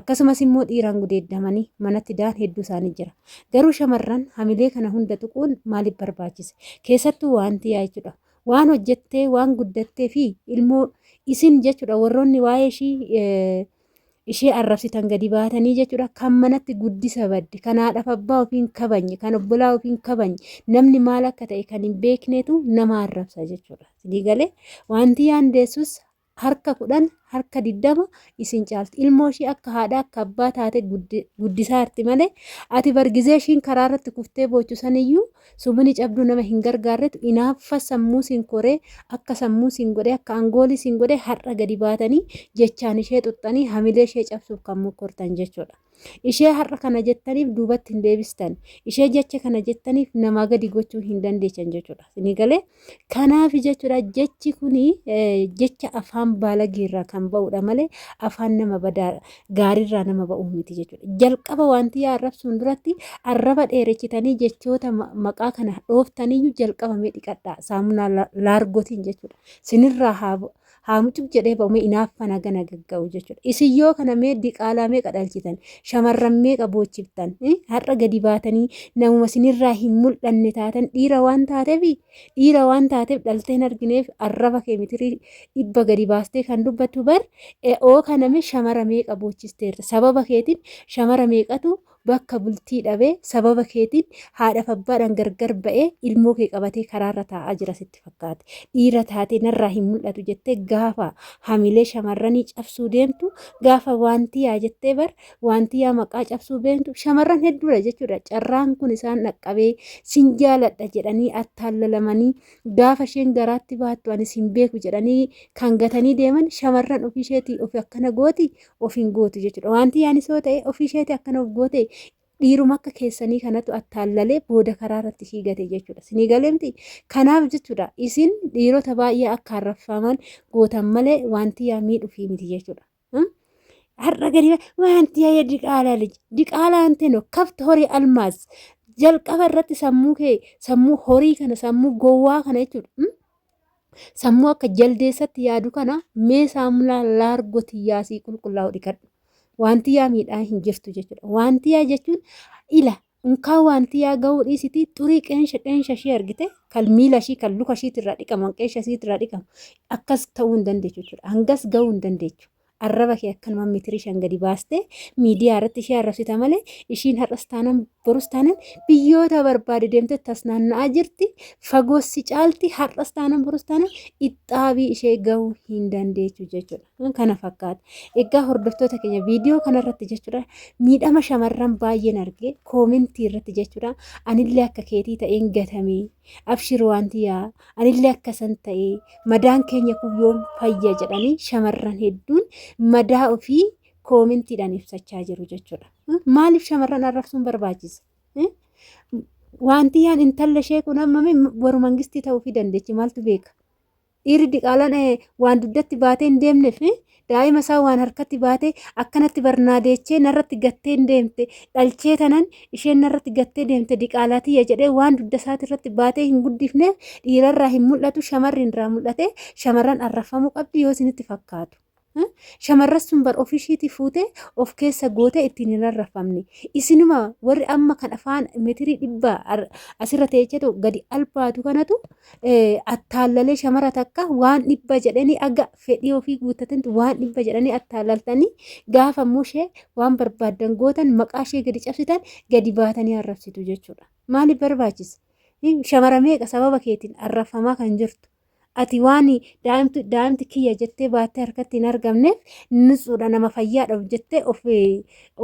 Akkasumas immoo dhiiraan gudeeddamanii manatti daan hedduu isaanii jira. Garuu shamarran hamilee kana hunda tuquun maaliif barbaachise? Keessattuu waanti yaa jechuudha. Waan hojjettee, waan guddattee fi ilmoo isin jechuudha warroonni waa'ee ishii ishee arrabsitan gadi baatanii jechuudha kan manatti guddisa badde kan haadhaaf abbaa ofiin kabanye kan obbolaa ofiin kabanye namni maal akka ta'e kan hin beeknetu nama arrabsa jechuudha. Sinii galee wanti yaandeessus harka kudhan harka diddama isin caalti ilmoo ishii akka haadha akka abbaa taate guddisaa jirti malee ati bargizee ishiin karaa irratti kuftee boochu saniyyuu sumuni cabduu nama hin gargaarretu inaaffa sammuu siin koree akka sammuu siin godhee akka angoolii siin godhee har'a gadi baatanii jechaan ishee xuxxanii hamilee ishee cabsuuf kan mokkortan jechuudha. Ishee har'a kana jettaniif duubatti hin deebistan. Ishee jecha kana jettaniif namaa gadi gochuu hin dandeessan jechuudha. Isinii galee kanaaf jechuudha jechi kuni jecha afaan baalageerraa kan ba'udha malee afaan nama badaa gaariirraa nama ba'uu miti jechuudha. Jalqaba wanti yaa arrabsuun duratti arraba dheerechitanii jechoota maqaa kana dhooftaniyyuu jalqaba mee dhiqadhaa saamunaa laargotiin jechuudha. Sinirraa haa bu'u. haa mucuk jedhee ba'u mee inaaffa naga nagagga'u jechuudha. Isin yoo kana mee diqaalaa meeqa dhalchitan shamarran meeqa boochiftan har'a gadi baatanii namuma sinirraa hin mul'anne taatan dhiira waan taateef dhiira waan taateef dhaltee hin argineef arraba kee mitirii dhibba gadi baastee kan dubbattu bar oo kana mee shamara meeqa boochisteerta sababa keetiin shamara meeqatu bakka bultii dhabee sababa keetiin haadhaf abbaadhaan gargar ba'ee ilmoo kee qabatee karaarra taa'aa jira sitti fakkaate dhiira taatee narraa hin mul'atu jettee gaafa hamilee shamarranii cabsuu deemtu gaafa waantiyaa jettee bar waantiyaa maqaa cabsuu beektu shamarran hedduudha jechuudha carraan kun isaan dhaqqabee sin jaaladha jedhanii attaallalamanii gaafa isheen garaatti baattu ani sin beeku jedhanii kan gatanii deeman shamarran ofii isheetii ofi akkana gooti of hin gootu jechuudha. Wanti yaanis yoo ta'e ofii isheetii akkana of goote dhiiruma akka keessanii kanatu attaallalee booda karaa irratti ishii gate jechuudha. Sinii galeemti kanaaf jechuudha isin dhiirota baay'ee akka harraffaman gootan malee wanti yaa miidhufii miti jechuudha. Har'a gadi wanti yaa diqaalaa liji diqaalaa hin ta'in kafti horii almaas jalqaba irratti sammuu kee sammuu horii kana sammuu gowwaa kana jechuudha. Sammuu akka jaldeessatti yaadu kana mee saamulaa laargo tiyyaa sii qulqullaa'u dhiqadhu. Wanti yaa miidhaa hin jirtu jechuudha. Wanti yaa jechuun ila unkaa wanti yaa ga'uu dhiisitii xurii qeensha qeensha ishee argite kan miila ishii kan luka ishiitirraa dhiqaman qeensha isiitirraa dhiqamu akkas ta'uu hin dandeechu jechuudha. Hangas ga'uu hin dandeechu. Arraba kee akkanuma mitirii shan gadi baastee miidiyaa irratti ishee arrabsita malee ishiin har'as taanan borus taanan biyyoota barbaade deemtee tas naanna'aa jirti fagoos si caalti har'as taanan borus taanan ittaabii ishee gahuu hin dandeechu jechuudha kana fakkaata egaa hordoftoota keenya viidiyoo kanarratti jechuudha miidhama shamarran baay'een arge koomentii irratti jechuudha anillee akka keetii ta'een gatamee abshir waan tiyaa anillee akkasan ta'ee madaan keenya kun yoom fayya jedhanii shamarran hedduun madaa ofii koomintiidhaan ibsachaa jiru jechuudha. Maaliif shamarran arrabsuun barbaachisa? Wanti yaan intalli ishee kun amma waru mangistii ta'uufii dandeechi maaltu beeka? Dhiirri diqaalaan waan dugdatti baatee hin deemneef daa'ima isaa waan harkatti baatee akkanatti barnaa deechee narratti gattee hin deemte dhalchee tanan isheen narratti gattee deemte diqaalaa tiyya jedhee waan dugda isaati irratti baatee hin guddifneef dhiirarraa hin mul'atu shamarri irraa mul'ate shamarran arrafamuu qabdi yoo isinitti fakkaatu. Shamarras sun bar ofii ishiitii fuutee of keessa gootee ittiin hin rarrafamne. Isinuma warri amma kan afaan metirii dhibba asirra teechetu gadi albaatu kanatu attaallalee shamara takka waan dhibba jedhanii aga fedhii ofii guuttatantu waan dhibba jedhanii attaallaltanii gaafa immoo ishee waan barbaaddan gootan maqaa ishee gadi cabsitan gadi baatanii arrabsitu jechuudha. Maaliif barbaachisa? Shamara meeqa sababa keetiin arrabfamaa kan jirtu? Ati waan daa'imtu daa'imti kiyya jettee baattee harkatti hin argamneef nutsuudha nama fayyaadhaaf jettee ofii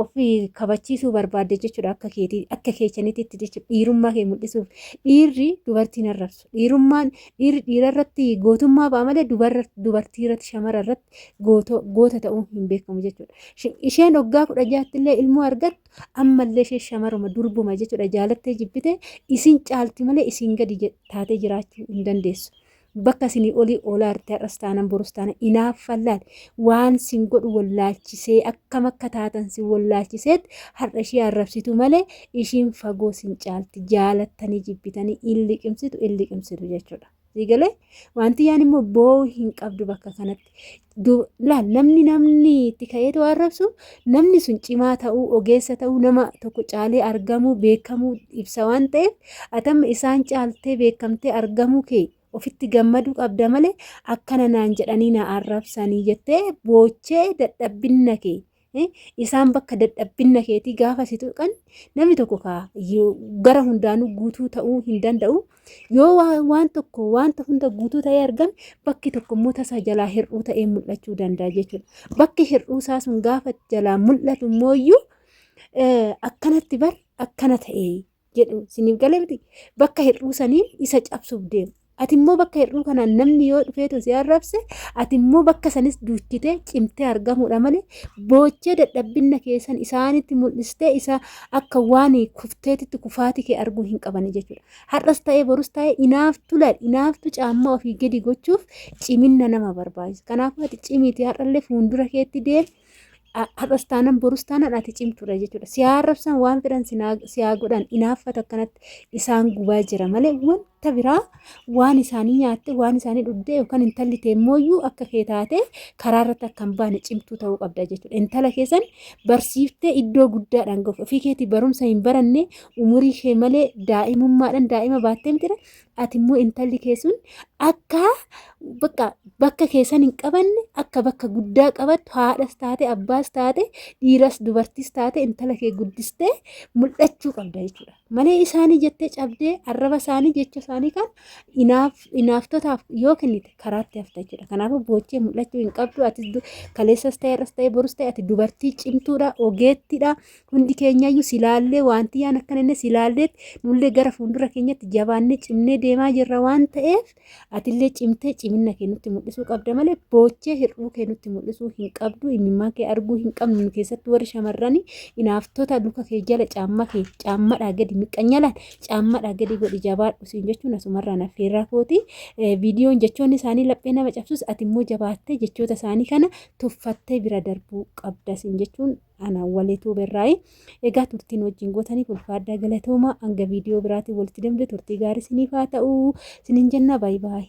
ofii kabachiisuu barbaadde jechuudha akka keetii akka keechaniititti jechuudha dhiirummaa kee mul'isuuf dhiirri dubartii hin arrabsu dhiirummaan dhiirri dhiira irratti gootummaa ba'a malee dubarra dubartii irratti shamara irratti goota goota ta'uun hin beekamu jechuudha. Sh- Isheen waggaa kudha jaatti illee ilmoo argatte ammallee ishee shamaruma durbuma jechuudha jaalattee jibbite isin caalti malee isin gadi taatee jiraachuu hin dandeessu. Bakka isinii olii oolaa irratti har'as taanan borus taanan inaaffallaal waan sin godhu wallaalchisee akkam akka taatan sin wallaalchiseet har'a ishee arrabsitu malee ishiin fagoo sin caalti jaalattanii jibbitanii in liqimsitu in liqimsitu jechuudha. Sigalee waantiyyaan immoo boo'uu hin qabdu bakka kanatti. Laal namni namni itti ka'eetu arrabsu namni sun cimaa ta'uu ogeessa ta'uu nama tokko caalee argamuu beekamuu ibsa waan ta'eef atamma isaan caaltee beekamtee argamuu kee ofitti gammaduu qabda malee akkana naan jedhanii na arrabsanii jettee boochee dadhabbinna kee Isaan bakka dadhabbinna keetii gaafa si tuqan namni tokko kaa gara hundaanuu guutuu ta'uu hin danda'u. Yoo waan tokko wanta hunda guutuu ta'ee argame bakki tokko immoo tasaa jalaa hir'uu ta'ee mul'achuu danda'a jechuudha. Bakki hir'uu isaa sun gaafa jalaa mul'atu immoo akkanatti bar akkana ta'ee jedhu siniif galee miti bakka hir'uu saniin isa cabsuuf deemu. Ati immoo bakka hir'uu kanaan namni yoo dhufeetu si arrabse ati immoo bakka sanis duuchitee cimtee argamuudha malee boochee dadhabbinna keessan isaanitti mul'istee isa akka waan kufteetitti kufaatii kee arguu hin qabani jechuudha. Har'as ta'ee borus ta'ee inaaftu laal inaaftu caammaa ofii gadi gochuuf ciminna nama barbaachisa. Kanaafuu ati cimiitii har'allee fuuldura keetti deemi. Har'as taanan borus taanan ati cimtuudha jechuudha. Si haa arrabsan waan fedhan si haa godhan inaaffata akkanatti isaan gubaa jira malee wanta biraa waan isaanii nyaatte waan isaanii dhugdee yookaan intalli teemmooyyuu akka kee taate karaa irratti akka hin baane cimtuu ta'uu qabda jechuudha. Intala keessan barsiiftee iddoo guddaadhaan gahu ofii keetii barumsa hin baranne umurii kee malee daa'imummaadhaan daa'ima baattee mitira ati immoo intalli kee sun akka bakka bakka keessan hin qabanne akka bakka guddaa qabattu haadhas taate abbaas taate dhiiras dubartis taate intala kee guddistee mul'achuu qabda jechuudha malee isaanii jettee cabdee arraba isaanii jecha isaanii kan inaaf inaaftotaaf yoo kennite karaatti hafta jechuudha kanaafuu boochee mul'achuu hin qabdu ati kaleessas ta'e irras ta'e borus ta'e ati dubartii cimtuudha ogeettiidha hundi keenyayyuu silaallee wanti yaan akkana inni silaalleetti nullee gara fuuldura keenyatti jabaannee cimnee deemaa jirra waan ta'eef atillee cimtee ciminna kee nutti mul'isuu qabda malee boochee hir'uu kee nutti mul'isuu hin qabdu imimmaa kee arguu hin qabnu keessatti warri shamarranii inaaftota luka kee jala caamma kee caammadhaa gadi miqqanyalaan caammadhaa gadi godhi jabaadhu siin jechuun asumarraa naffeerraa kooti viidiyoon jechoonni isaanii laphee nama cabsus ati immoo jabaattee jechoota isaanii kana tuffattee bira darbuu qabda siin jechuun ana walituu berraayi egaa turtiin wajjin gootaniif ulfaadhaa galatoomaa hanga viidiyoo biraatiin walitti deemte turtii gaarii siniif haa ta'u sinin jennaa baay'ee baay'ee.